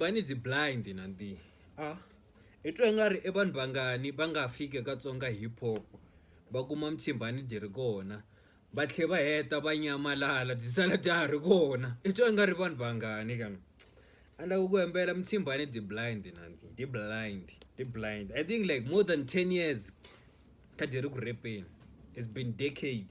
va ni dzi blind na ndi a i twa nga ri i vanhu vangani va nga fika ka tsonga hip hop va kuma mtshimbani dyi ri kona va tlhe va heta va nyamalala byi sala bya ha ri kona i twa nga ri vanhu vangani ka mina a ni lava ku hembela mtshimbani dyi blind na ndi dyi blind dyi blind i think like more than ten years kha dyi ri ku repeni it's been decade.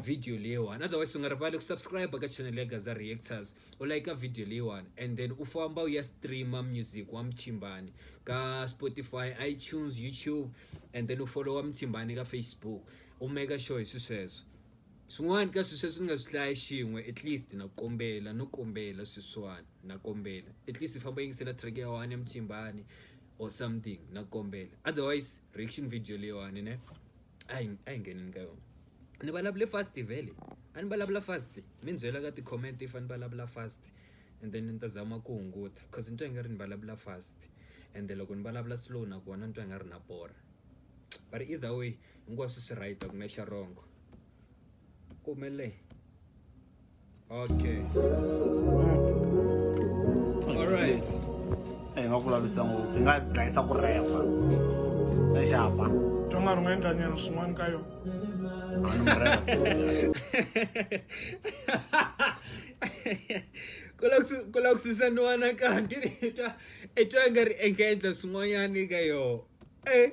video leyiwani otherwise u nga rivali ku subscribe ka channel ya gaza reactors u like video leyiwani and then u famba u ya streama music wa muthimbani ka spotify itunes youtube and then u followa muthimbani ka facebook u make sure hi swisweswo swin'wana ka swi sweswi ni nga swi hlaya xin'we at least na kombela no kombela sweswiwani na kombela at least famba yingisela track ya one ya muthimbani or something na kombela otherwise reaction video leyiwani ne a hi a hi ngheneni ka yona ni vulavule fast vhele a ni vulavula fast mi ni byela ka ti-comment if a ni vulavula fast and then ni ta zama ku hunguta coz ni twa ingari ni vulavula fast ende loko ni vulavula slow nakona ni twa nga ri na borha but either way hinkwaswo swi right a ku na xa wrong ku humelele. Okay. All right. Hey, nga kula bisa ngo, nga dlaisa ku repa. Na xapa. Tonga ri nga endla nyana swin'wana ka yona. ku la ku susaniwana kanti i twa i twa nga ri engaendla swin'wanyana eka yoho e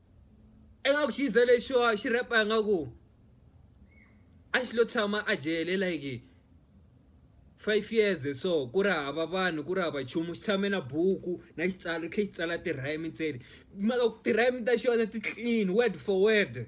ingaku xi ze lexiwa xi repa ingaku a xi lo tshama a jele like five years so ku ri hava vanhu ku ri hava nchumu xi tshame na buku na xitsalo khe xi tsala ti-rhyme ntsena mara ti-rhyme ta xona ti clean word for word.